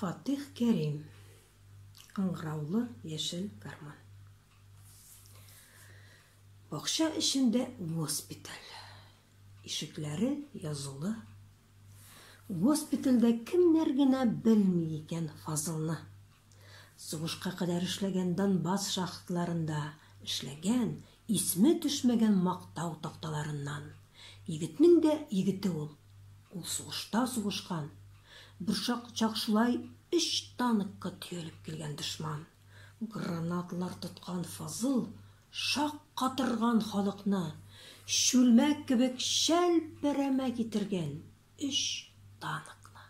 Фатих Кәрим. Ыңгыраулы яшел гармон. Бакча эчендә госпиталь. Ишекләре язулы. Госпитальдә кемнәр генә белми икән Фазылны. Сугышка кадәр эшләгән Донбасс шахтларында эшләгән, исме төшмәгән мактау такталарыннан. Егетнең дә егете ул. Ул сугышта сугышкан. Берчак чак шулай өч танкка төялеп килгән дошман. Гранаталар тоткан Фазыл шаккатырган халыкны, чүлмәк кебек чәлпәрәмә китергән өч танкны.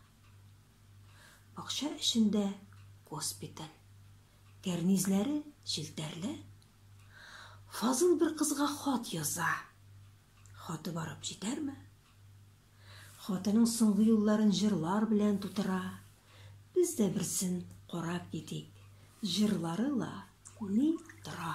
Бакча эчендә госпиталь. Кәрнизләре челтәрле. Фазыл бер кызга хат яза. Хаты барып җитәрме? Хатының соңгы юлларын җырлар белән тутыра. Без дә берсен карап китик. Җырлары ла күни тора.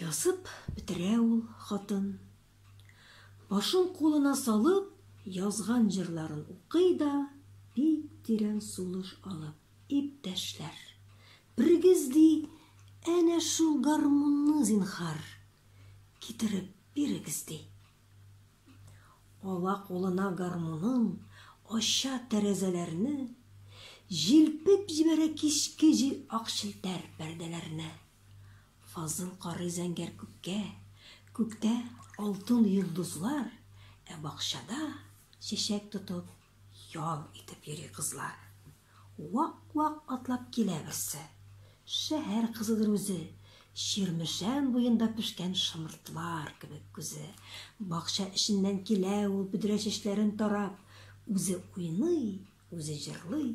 Язып бетерә ул хатын. Башын кулына салып, язган җырларын укый да, бик тирән сулыш алып, Иптәшләр, берегез, ди, әнә шул гармунны, зинһар, китереп бирегез, ди. Ала кулына гармунын, ача тәрәзәләрне, җилпеп җибәрә кичке җил ак челтәр пәрдәләрне. Фазыл карый зәңгәр күккә, Күктә, алтын йолдызлар, Ә бакчада, чәчәк тотып, Ял итеп йөри кызлар. Вак-вак атлап килә берсе, Шәһәр кызыдыр үзе, Чирмешән буенда пешкән Шомыртлар кебек күзе. Бакча эченнән килә ул, Бөдрә чәчләрен тарап, Үзе уйный, үзе җырлый.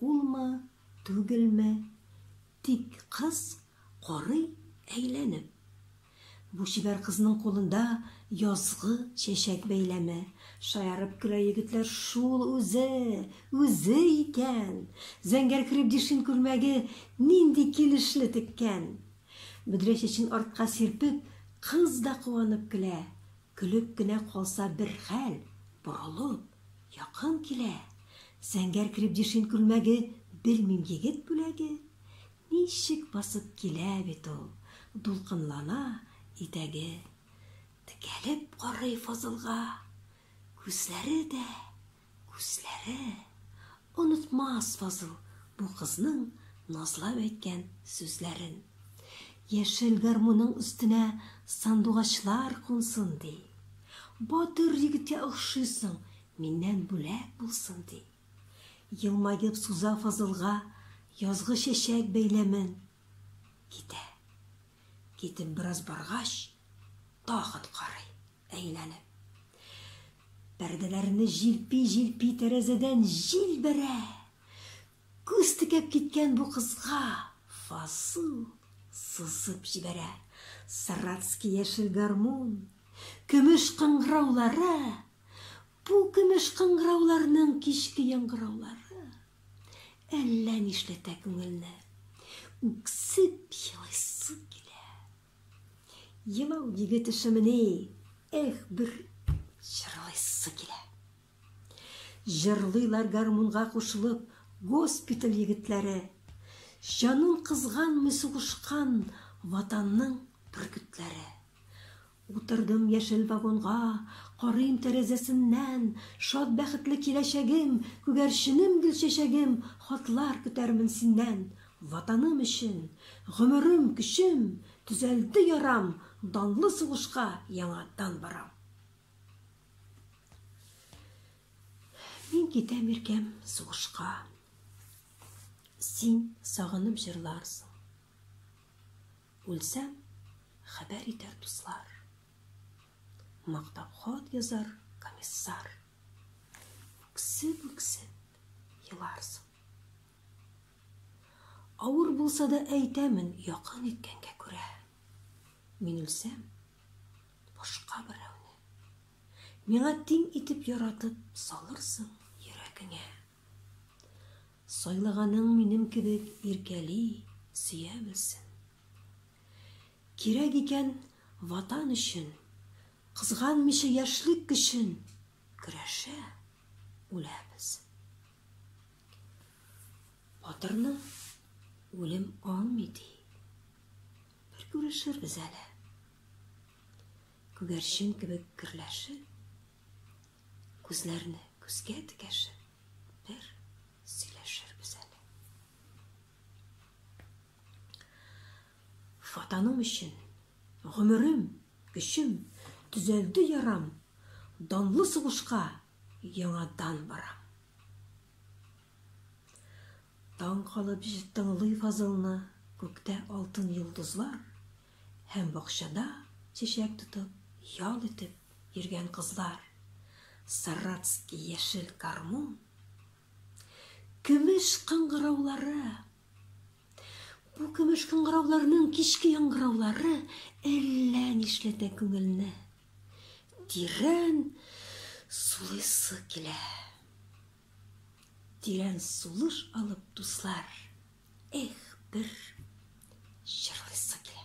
Улмы, түгелме, тик кыз карый әйләнеп. Бу чибәр кызның кулында язгы чәчәк бәйләме. Шаярып көлә егетләр, шул үзе, үзе икән! Зәңгәр крепдишин күлмәге нинди килешле теккән! Бөдрә чәчен артка сирпеп, кыз да куанып көлә. Көлеп кенә калса бер хәл, борылып, якын килә, Зәңгәр крепдешин күлмәге, белмим, егет бүләге? Ничек басып килә бит ул, дулкынлана итәге. Текәлеп карый Фазылга, күзләре дә. Күзләре! Онытмас Фазыл бу кызның назлап әйткән сүзләрен. Яшел гармунның өстенә сандугачлар кунсын, ди. Батыр егеткә охшыйсың, миннән бүләк булсын, ди. Елмаеп суза Фазылга язгы чәчәк бәйләмен. Китә. Китеп бераз баргач, тагын карый, әйләнеп. Пәрдәләрне җилпи-җилпи тәрәзәдән җил бәрә. Күз текәп киткән бу кызга Фасу сызып җибәрә. Саратский яшел гармун, көмеш кыңгыраулары, бу көмеш кыңгырауларның кичке яңгыраулары. Әллә нишләтә күңелне. Үксеп елыйсы килә. Елау егет эшемени, эх, бер җырлыйсы килә. Җырлыйлар гармунга кушылып госпиталь егетләре. Җанын кызганмый сугышкан Ватанның бөркетләре. Утырдым яшел вагонга, Карыйм тәрәзәсеннән, Шат бәхетле киләчәгем, Күгәрченем гөлчәчәгем, Хатлар көтәрмен синнән. Ватаным өчен, гомерем, көчем, Төзәлде ярам, Данлы сугышка яңадан барам. Мин китәм иркәм сугышка, Син сагынып җырларсың. Үлсәм, хәбәр итәр дуслар. Мактап хат язар комиссар. Үксеп-үксеп еларсың. Авыр булса да әйтәмен якын иткәнгә күрә. Мин үлсәм, башка берәүне. Миңа тиң итеп яратып салырсың йөрәгеңә. Сайлаганың минем кебек иркәли, сөя белсен. Кирәк икән Ватан өчен, кызганмыйча яшьлек көчен көрәшә, үлә белсен. Батырны үлем алмый ди. Бер күрешербез әле. Күгәрчен кебек керләшеп, Күзләрне күзгә текәшеп, бер сөйләшербез әле. Ватаным өчен гомерем, көчем төзәлде ярам, данлы сугышка яңадан барам. Таң калып тыңлый фазылны, күктә алтын йолдызлар, Һәм бакчада чәчәк тотып, ял итеп йөргән кызлар, саратский яшел гармун, көмеш кыңгыраулары. Бу көмеш кыңгырауларның кичке яңгыраулары әллә нишләтә күңелне. Тирән сулыйсы килә. Тирән сулыш алып, дуслар, эх, бер җырлыйсы килә.